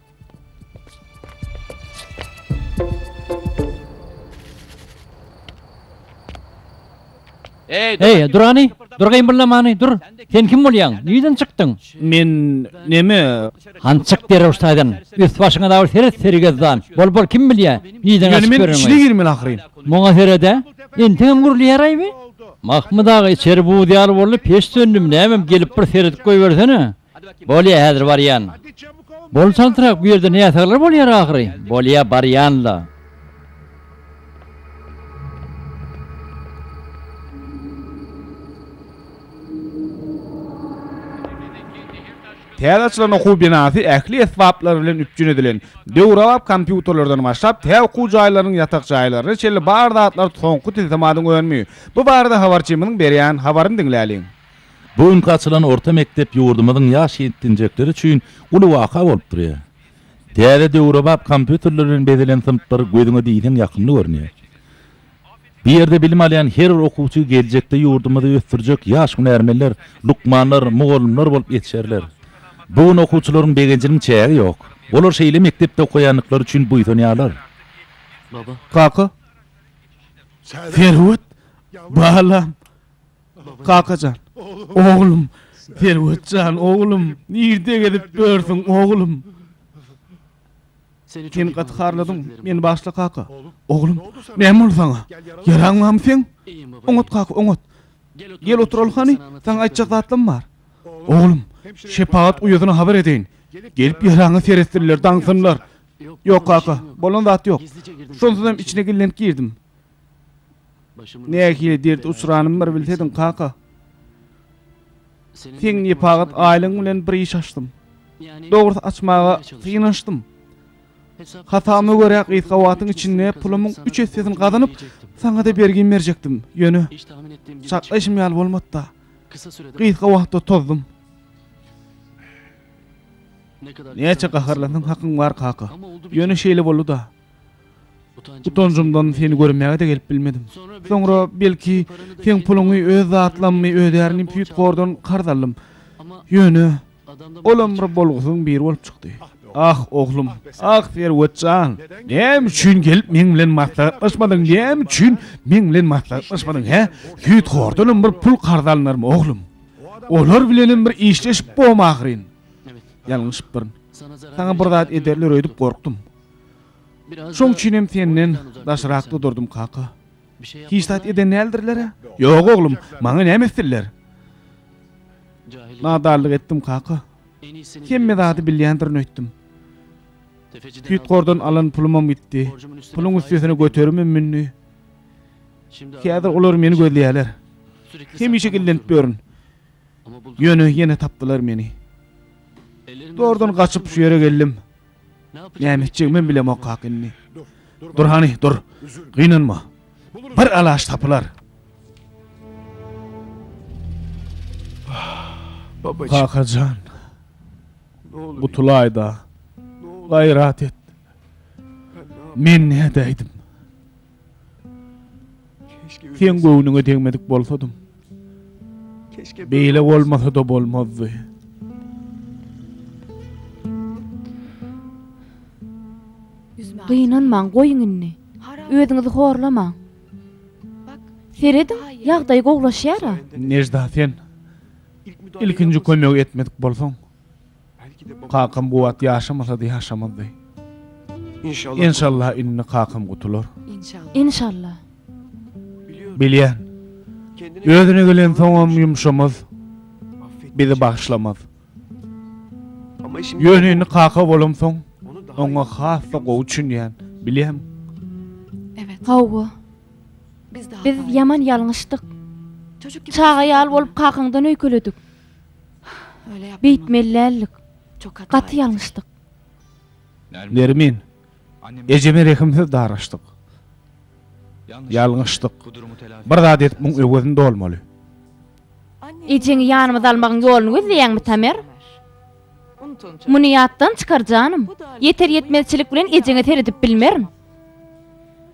Eý, dur hany, dur gymyldamany, dur. Sen kim bolýaň? Nirden çykdyň? Men neme? Han çyk derrew ştaýdan. Üst başyňa dagy seret sergezdan. Bol bol kim bilýä? Nirden Ýöne açyp men ýöreňi? içine girmeli ahyryn. Muňa seret-ä. Entegem gürleýäraýby. Mahmyt aga içeri buz ýaly boldy, peç söndüm, nämem gelip bir seredip goýbersene. Bolýa, häzir barýan. Bol çaltrak, bu ýerde näsaglar bolýar ahyry? Bolýa, barýan-la. Täze açylan okuw binasy ähli esbaplar bilen üpjün edilen. Döwrebap kompýuterlerden başlap, tä okuw jaýlarynyň ýatak jaýlaryna çenli bar zatlar soňky tilsimatyň önümi. Bu barada habarçymyzyň berýän habaryny diňläliň. Bu günki açylan orta mekdep ýurdumyzyň ýaş ýetginjekleri üçin uly waka bolup durýar. Täze döwrebap kompýuterler bilen bezelen synplar gözüňe diýseň ýakymly görünýär. Bu ýerde bilim alýan her bir okuwçy geljekde ýurdumyzy ösdürjek ýaş hünärmenler, lukmanlar, mugallymlar bolup ýetişerler. Bu gün okuwçylaryň begenjiniň çägi ýok. Olar şeýle mekdepde okaýandyklary üçin buýsanýarlar. Kaka, Serwet, balam, Kakajan, oglum, Serwet jan, oglum, nirde gezip ýörsüň, oglum? Sen gaty harladyň meni bagyşla, kaka. Oglum, näme boldy saňa? Ýaraňmamy seň? Oňat, kaka, oňat. Gel oturaly hany, saňa aýtjak zatlam bar. Oglum, şepagat uýasyna habar edeýin. Gelip ýaraňy seretsinler, daňsynlar. Ýok, kaka, bolan zat ýok. Şonsuzam içine gizlenip girdim. Nähili derde uçranymy bir bilsediň, kaka. Seň nepagat aýlygyň bilen bir iş açdym. Dogrusy açmaga synanyşdym. Hasabama görä gysga wagtyň içinde pulumyň üç essesini gazanyp, saňa-da bergin berjekdim. Ýöne, çaklaýşym ýaly bolmady-da. Gysga wagtda tozdum. Näçe gaharlansaň hakyň bar, kaka. Ýöne şeýle boldy-da. Utanjymdan seni görmäge-de gelip bilmedim. Soňra, belki, seň puluňy öz zatlammy, öz ýaryny Pýutgordan karz aldym. Ýöne, olam bir bolgusyzyň biri bolup çykdy. Ah, oglum, ah, Serwet jan, näme üçin gelip meň bilen maslahatlaşmadyň, näme üçin meň bilen maslahatlaşmadyň, hä? Pýutgordanam bir pul karz alynarmy, oglum? Olar bilenem bir işleşip bom ahyryn. Ýalňyşypdyryn. Saňa bir zat ederler öýdüp gorkdum. Şoň üçin hem senden daşrakda durdum, kaka. Hiç zat eden däldirler-ä? Ýok, oglum, maňa näme etdiler? Nadarlyk etdim, kaka. Hemme zady bilýändirin öýtdüm. Süýtgordan alan pulumam gitdi. Puluň üstesine göterimim mündi. Häzir olar meni gözleýärler. Hemişe gizlenip ýörün. Ýöne ýene tapdylar meni. Zordan gaçyp şu ýere geldim. Näme etjegimem bilemokak indi. Dur hany, dur. Gynanma. Bir alaç tapylar. Kaka jan. Gutulaýda. Gaýrat et. Men nädäýdim? Seň göwnüňe degmedik bolsadym. Beýle bolmasa-da bolmazdy. Gynanmaň, goýuň indi. Özüňizi horlamaň. Serediň, ýagdaý gowlaşýar-a. Nejda, sen ilkinji kömegi etmedik bolsaň. Kakam bu wagt ýaşamasady ýaşamazdy. Enşallah indi kakam gutular. Enşallah. Bilýän. Özüne gelensoňam ýumşamaz. Bizi bagyşlamaz. Ýöne indi kaka bolamsoň oňa has-da gowy çünýän. Bilýäň. Hawa. Biz ýaman ýalňyşdyk. Çaga ýaly bolup kakaňdan öýkeledik. Beýtmelidäldik. Gaty ýalňyşdyk. Nermin. Ejeme rehimsiz daraşdyk. Ýalňyşdyk. Bir zat edip muň öwezini dolmaly. Ejeňi ýanymyza almagyň ýoluny gözleýäňmi, Tamer? Muny ýatdan çykar, janym. Ýeter-ýetmezçilik bilen ejeňe seredip bilmerin.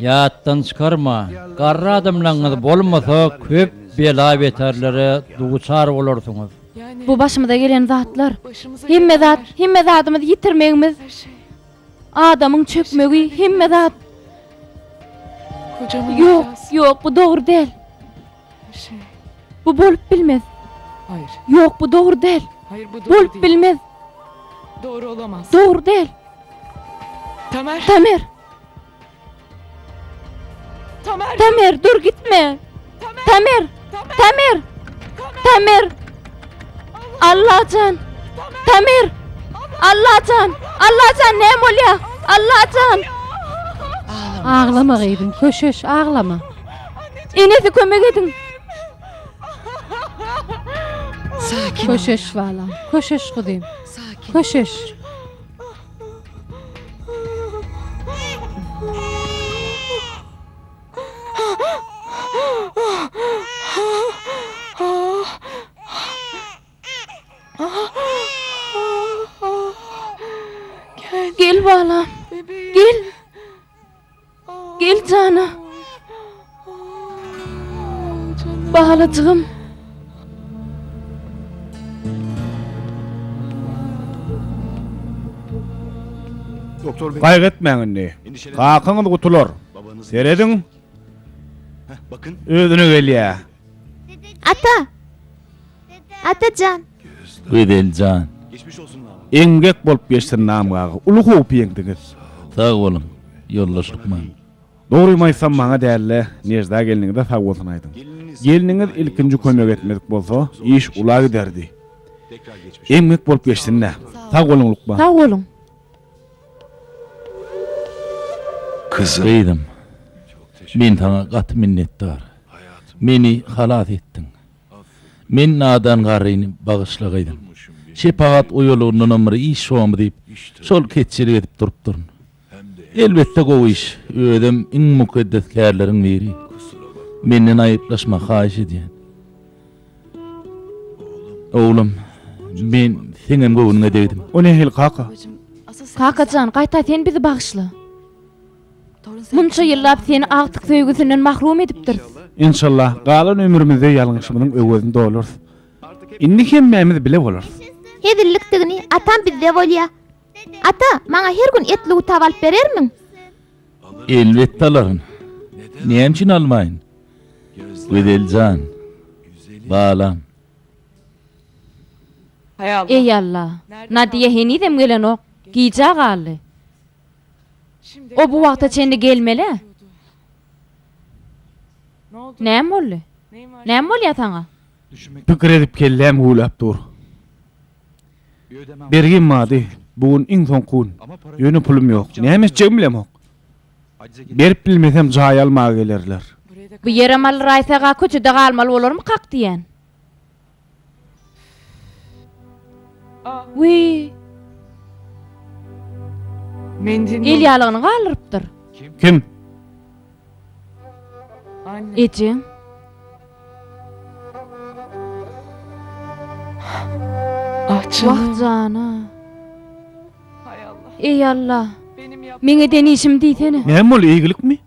Ýatdan çykarma, garry adamlaryňyz bolmasa köp bela-beterlere duçar bolarsyňyz. Bu başymyza gelen zatlar. Hemme zat, hemme zadymyzy ýitirmegimiz. Adamyň çökmegi, hemme zat. Ýok, ýok, bu dogry däl. Bu bolup bilmez. Haýyr. Ýok, bu dogry däl. Haýyr, bu dogry däl. Bolup bilmez. Dogry olamaz. Dogry däl. Tamer. Tamer. Tamer. Tamer, dur gitme. Tamer. Tamer. Tamer. Tamer. Allahjan. Tamer. Allahjan. Allahjan ne bolýar? Allahjan. Ağlama gyzym, köşeş, ağlama. Enesi kömek ediň. Sakin Köşeş balam. Köşeş gyzym. Sakin. Köşeş. Gel balam. Gel. Gel jana. Balajygym. Gaýgy etmäň indi. Kakaňyz gutular. Serediň. Özüne gelýär. Ata! Ata jan! Güzel jan! Eňňek bolup geçsin namga aga! Uly howpy ýeňdiňiz! Sag boluň, ýoldaş lukman! Dogrymy aýtsam maňa däl-de, Nejda gelniňize sag bolsun aýdyň. Gelniňiz ilkinji kömek etmedik bolsa, iş ula giderdi. Eňňek bolup geçsin-dä! Sag boluň lukman! Sag boluň! Gyzym, men saňa gaty minnetdar. Meni halas etdiň. Men nadan garryny bagyşla gyzym. Şepagat oýalygyndanam bir iş şomy diýip, şol ketçilik edip durupdyryn. Elbetde gowy iş, özem iň mukaddes kärleriň biri. Menden aýyplaşma haýyş edýän. Oglum, men seňem göwnüňe degdim. O nähili kaka? Kaka jan, gaýta sen bizi bagyşla. Munça ýyllap seni agtyk söýgüsinden mahrum edipdiris. Enşalla, galan ömrümizde ýalňyşymyzyň öwezini dolarys. Indi hemmämiz bile bolarys. Hezillikdigini atam bizde bolýa. Ata, maňa her gün etli gutaw alyp berermiň? Elbetde alaryn. Näme üçin almaýyn? Güzel jan. Balam. Eý Alla. Nadiýa henizem gelenok. Gijä galdy. O bu wagta çenli gelmeli-ä. Näme boldy? Näme bolýar saňa? Pikir edip kelläm güwläp dur. Bergim bardy, bu gün iň soňky gün. Ýöne pulum ýok. Näme etjegimi bilemok. Berip bilmesem jaý almaga gelerler. Bu ýere mal raýsaga köçede galmaly bolarmykak diýýän. Wiý. El ýalygyny galdyrypdyr. Kim? Ejeň? Wah jana. Eý Alla. Meň eden işim diýsene. Näme boldy eýgilikmi?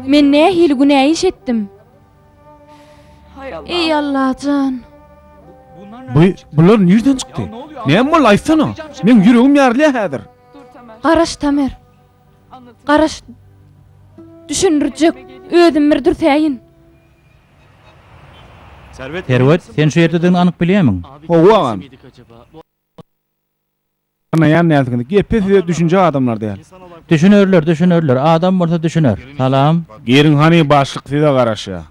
Men nähili günä iş etdim? Eý Allajan. Bu bular nirden çykdy? Näme boldy aýtsana. Meň ýüregim ýarylýar häzir. Garaş Tamer. Garaş. Düşündirjek. Özüm bir dürsäýin. Serwet, sen şu ýerdedigini anyk bilýärmiň? Hawa, agam. Tanaýan dälsiňiz. Gepe size düşünjek adamlar däl. Düşünerler, düşünerler. Adam bolsa düşüner. Salam. Giriň hany, başlyk size garaşýar.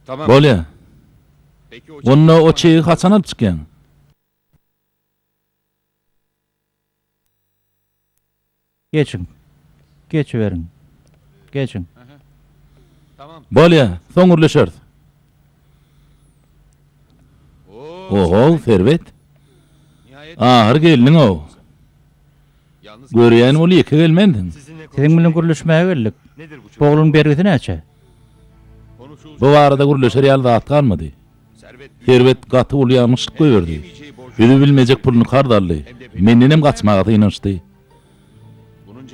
Bolýar. Onda o çegi haçan alyp çykýaň? Geçiň. Geçiberiň. Geçiň. Bolýa, soň gürleşeris. O-how, Serwet. Ahyry geldiň-ow. Görýän ol ýeke gelmensiň. Siziň bilen gürleşmäge geldik. Bu ogluň bergisi näçe? Bu barada gürleşer ýaly zat galmady. Serwet gaty uly ýalňyşlyk goýberdi. Özi bilmejek puluny karz aldy. Mendenem gaçmaga synanyşdy.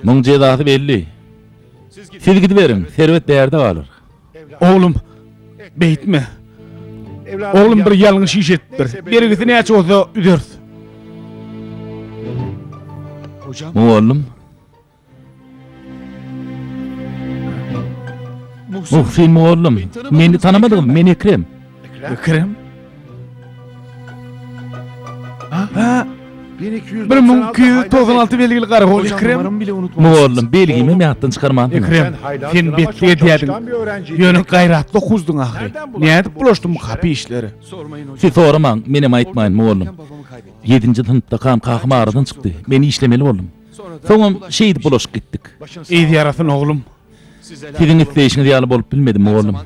Muň jezasy belli. Siz gidiberiň, serwet bärde galar. Oglum, beýtme. Oglum bir ýalňyş iş edipdir. Bergisi näçe bolsa üzeris. Mugallym, Muhsin mugallym, meni tanamadyňyzmy? Men Ekrem. Ekrem? Ha? 1200 96 belgili garagol Ekrem. Mugallym belgimi meýatdan çykarman. Ekrem, sen betli edýädiň. Ýöne gaýratly okuzdyň ahyry. Nädip bulaşdym bu kapy işleri? Siz soramaň, men hem aýtmaýyn mugallym. 7-nji synpda kan kakam aradan çykdy. Men işlemeli boldum. Soňam şeýdip bulaşyp gitdik. Yz ýarasyn oglum. Siziň isleýşiňiz ýaly bolup bilmedi, mugallym.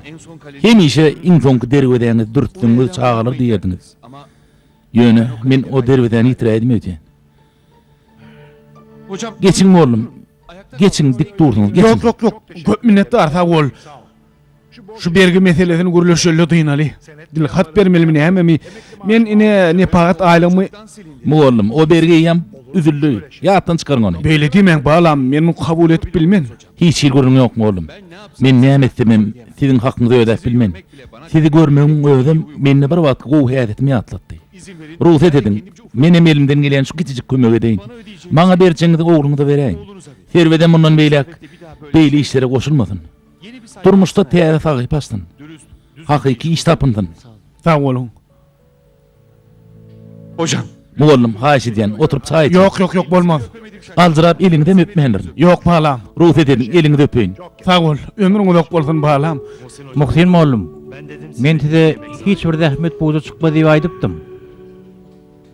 Hemişe iň soňky derwezäňizi dürtseňiz çagalar diýerdiňiz. Ýöne, men o derwezäni ýitiräýdim öýdýän. Geçiň, mugallym, geçiň, dik dursuňyz, geçiň. Ýok, ýok, ýok. Köp minnetdar, sag bol. Şu bergi meselesini gürleşeli dynaly. Dil hat bermelimi nämemi? Men ine nepagat aýlygymy Mugallym, o bergiýem üzüldi. Ýatdan çykaryň ony. Beýle diýmäň balam, men muny kabul edip bilmen. Hiç hili gürrüň ýok mugallym. Men näme etsemem siziň hakyňyzy ödäp bilmen. Sizi görmegiň özem mende bir wagtky gowy häsiýetimi ýatlatdy. Rugsat ediň, menem elimden gelýän şu kiçijik kömegi edeýin. Maňa berjegiňizi ogluňyza beräýiň. Serwedem mundan beýläk beýle işlere goşulmasyn. Durmuşda täze sahypa açsyn. Hakyky iş tapynsyn. Sag boluň. Hojam. Mugallym, haýyş edýän, oturyp çaý içiň. Ýok, ýok, ýok, bolmaz. Aljyrap eliňizem öpmändirin. Ýok, balam. Rugsat ediň, eliňizi öpeýin. Sag bol, ömrüň uzak bolsun, balam. Muhsin mugallym, men size hiç bir zähmet puja çykmaz diýip aýdypdym.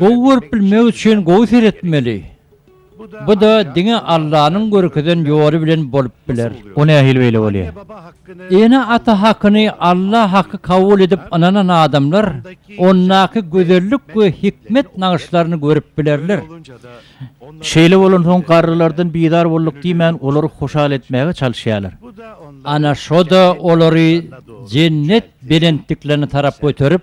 Gowy görüp bilmek üçin gowy seretmeli. Bu-da diňe Allanyň görkezen ýoly bilen bolup biler. O nähili beýle bolýar? Ene-ata hakyny Alla haky kabul edip ynanan adamlar ondaky gözellik we hikmet nagyşlaryny görüp bilerler. Şeýle bolansoň garrylardan bizar bolduk diýmän olary hoşal etmäge çalyşýarlar. Ana şo-da olary jennet belentliklerine tarap göterip,